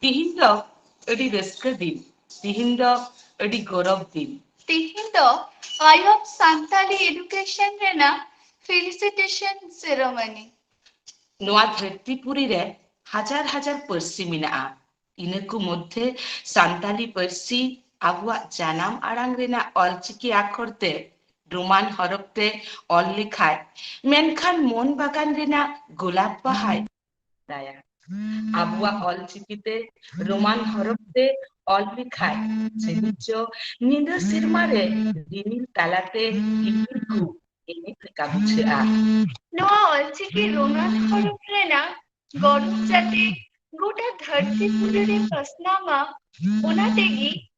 ᱛᱤᱦᱤᱧ ᱫᱚ ᱟᱹᱰᱤ ᱨᱟᱹᱥᱠᱟᱹ ᱫᱤᱱ᱾ ᱛᱤᱦᱤᱧ ᱫᱚ ᱟᱹᱰᱤ ᱜᱚᱨᱚᱵᱽ ᱫᱤᱱ᱾ ᱛᱤᱦᱤᱧ ᱫᱚ ᱟᱭ ᱚᱯᱷ ᱥᱟᱱᱛᱟᱞᱤ ᱮᱰᱩᱠᱮᱥᱚᱱ ᱨᱮᱱᱟᱜ ᱯᱷᱤᱞᱤᱥᱤᱴᱮᱥᱚᱱ ᱥᱮᱨᱚᱢᱚᱱᱤ᱾ ᱱᱚᱣᱟ ᱫᱷᱟᱹᱨᱛᱤ ᱯᱩᱨᱤ ᱨᱮ ᱦᱟᱡᱟᱨ ᱦᱟᱡᱟᱨ ᱯᱟᱹᱨᱥᱤ ᱢᱮᱱᱟᱜᱼᱟ᱾ ᱤᱱᱟᱹ ᱠᱚ ᱢᱚᱫᱷᱮ ᱥᱟᱱᱛᱟᱞᱤ ᱯᱟᱹᱨᱥᱤ ᱟᱵᱚᱣᱟᱜ ᱡᱟᱱᱟᱢ ᱟᱲᱟᱝ ᱨᱮᱱᱟᱜ ᱚᱞᱪᱤᱠᱤ ᱟᱠᱷᱚᱨ ᱛᱮ ᱨᱳᱢᱟᱱ ᱦᱚᱨᱚᱯ ᱛᱮ ᱚᱞ ᱞᱮᱠᱷᱟᱡ ᱢᱮᱱᱠᱷᱟᱱ ᱢᱚᱱ ᱵᱟᱜᱟᱱ ᱨᱮᱱᱟᱜ ᱜᱳᱞᱟᱯ ᱵᱟᱦᱟᱭ ᱫᱟᱭᱟ ᱟᱵᱚᱣᱟᱜ ᱚᱞ ᱪᱤᱠᱤ ᱛᱮ ᱨᱳᱢᱟᱱ ᱦᱚᱨᱚᱯ ᱛᱮ ᱚᱞ ᱞᱮᱠᱷᱟᱡ ᱥᱤᱨᱤᱡᱚ ᱧᱤᱫᱟᱹ ᱥᱮᱨᱢᱟ ᱨᱮ ᱨᱤᱢᱤᱞ ᱛᱟᱞᱟᱛᱮ ᱤᱯᱤᱞ ᱠᱚ ᱮᱱᱮᱡ ᱞᱮᱠᱟ ᱵᱩᱡᱷᱟᱹᱜᱼᱟ ᱱᱚᱣᱟ ᱚᱞ ᱪᱤᱠᱤ ᱨᱳᱢᱟᱱ ᱦᱚᱨᱚᱯ ᱨᱮᱱᱟᱜ ᱜᱚᱨᱚᱵᱽ ᱡᱟᱛᱮ ᱜᱚᱴᱟ ᱫᱷᱟᱹᱨᱛᱤ ᱯᱩᱨᱤ ᱨᱮ ᱯᱟᱥᱱᱟᱣ ᱢᱟ ᱚᱱᱟ ᱛᱮᱜᱮ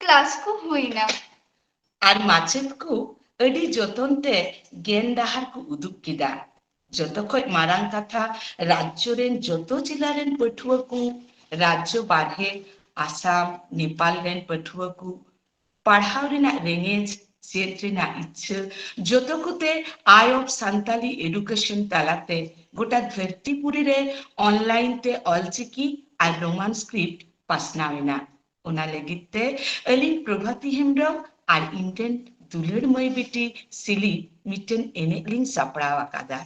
ᱠᱞᱟᱥ ᱠᱚ ᱦᱩᱭᱱᱟ᱾ ᱟᱨ ᱢᱟᱪᱮᱛ ᱠᱚ ᱟᱹᱰᱤ ᱡᱚᱛᱚᱱ ᱛᱮ ᱜᱮᱱ ᱰᱟᱦᱟᱨ ᱠᱚ ᱩᱫᱩᱜ ᱠᱮᱫᱟ᱾ ᱡᱚᱛᱚ ᱠᱷᱚᱡ ᱢᱟᱨᱟᱝ ᱠᱟᱛᱷᱟ ᱨᱟᱡᱽᱡᱚ ᱨᱮᱱ ᱡᱚᱛᱚ ᱡᱮᱞᱟ ᱨᱮᱱ ᱯᱟᱹᱴᱷᱩᱣᱟᱹ ᱠᱚ, ᱨᱟᱡᱽᱡᱚ ᱵᱟᱨᱦᱮ ᱟᱥᱟᱢ, ᱱᱮᱯᱟᱞ ᱨᱮᱱ ᱯᱟᱹᱴᱷᱩᱣᱟᱹ ᱠᱚ, ᱯᱟᱲᱦᱟᱣ ᱨᱮᱱᱟᱜ ᱨᱮᱸᱜᱮᱡ, ᱪᱮᱫ ᱨᱮᱱᱟᱜ ᱤᱪᱪᱷᱟᱹ ᱡᱚᱛᱚ ᱠᱚᱛᱮ ᱟᱭ ᱚᱯᱷ ᱥᱟᱱᱛᱟᱞᱤ ᱮᱰᱩᱠᱮᱥᱚᱱ ᱛᱟᱞᱟᱛᱮ ᱜᱚᱴᱟ ᱫᱷᱟᱹᱨᱛᱤᱯᱩᱨᱤ ᱨᱮ ᱚᱱᱞᱟᱭᱤᱱ ᱛᱮ ᱚᱞᱪᱤᱠᱤ ᱟᱨ ᱨᱳᱢᱟᱱ ᱥᱠᱨᱤᱯᱴ ᱯᱟᱥᱱᱟᱣ ᱮᱱᱟ᱾ ᱚᱱᱟ ᱞᱟᱹᱜᱤᱫ ᱛᱮ ᱟᱹᱞᱤᱧ ᱯᱨᱚᱵᱷᱟᱛᱤ ᱦᱮᱢᱵᱨᱚᱢ ᱟᱨ ᱤᱧ ᱨᱮᱱ ᱫᱩᱞᱟᱹᱲ ᱢᱟᱹᱭ ᱵᱤᱴᱤ ᱥᱤᱞᱤ ᱢᱤᱫᱴᱮᱱ ᱮᱱᱮᱡ ᱞᱤᱧ ᱥᱟᱯᱲᱟᱣ ᱟᱠᱟᱫᱟ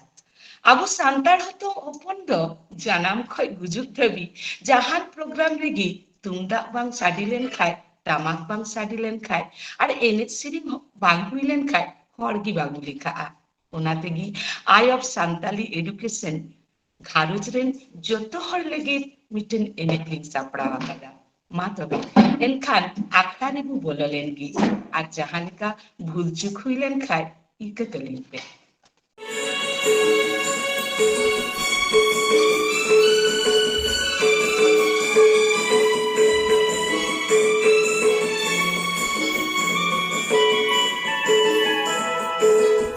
ᱟᱵᱚ ᱥᱟᱱᱛᱟᱲ ᱦᱚᱛᱚ ᱦᱚᱯᱚᱱ ᱫᱚ ᱡᱟᱱᱟᱢ ᱠᱷᱚᱡ ᱜᱩᱡᱩᱜ ᱫᱷᱟᱹᱵᱤᱡ ᱡᱟᱦᱟᱱ ᱯᱨᱳᱜᱨᱟᱢ ᱨᱮᱜᱮ ᱛᱩᱢᱫᱟᱜ ᱵᱟᱝ ᱥᱟᱰᱮ ᱞᱮᱱ ᱠᱷᱟᱡ ᱴᱟᱢᱟᱠ ᱵᱟᱝ ᱥᱟᱰᱮ ᱞᱮᱱ ᱠᱷᱟᱡ ᱟᱨ ᱮᱱᱮᱡ ᱥᱮᱨᱮᱧ ᱵᱟᱝ ᱦᱩᱭ ᱞᱮᱱ ᱠᱷᱟᱡ ᱦᱚᱲ ᱜᱮ ᱵᱟᱵᱚ ᱞᱮᱠᱷᱟᱜᱼᱟ ᱚᱱᱟ ᱛᱮᱜᱮ ᱟᱭ ᱚᱯᱷ ᱥᱟᱱᱛᱟᱞᱤ ᱮᱰᱩᱠᱮᱥᱚᱱ ᱜᱷᱟᱨᱚᱸᱡᱽ ᱨᱮᱱ ᱡᱚᱛᱚ ᱦᱚᱲ ᱞᱟᱹᱜᱤᱫ ᱢᱤᱫᱴᱮᱱ ᱮᱱᱮᱡ ᱞᱤᱧ ᱥᱟᱯᱲᱟᱣ ᱟᱠᱟᱫᱟ ᱢᱟ ᱛᱚᱵᱮ ᱮᱱᱠᱷᱟᱱ ᱟᱠᱷᱲᱟ ᱨᱮᱵᱚ ᱵᱚᱞᱚ ᱞᱮᱱ ᱜᱮ ᱟᱨ ᱡᱟᱦᱟᱸ ᱞᱮᱠᱟ ᱵᱷᱩᱞ ᱪᱩᱠ ᱦᱩᱭ ᱞᱮᱱ ᱠᱷᱟᱱ ᱤᱠᱟᱹ ᱠᱟᱹᱞᱤᱧ ᱯᱮ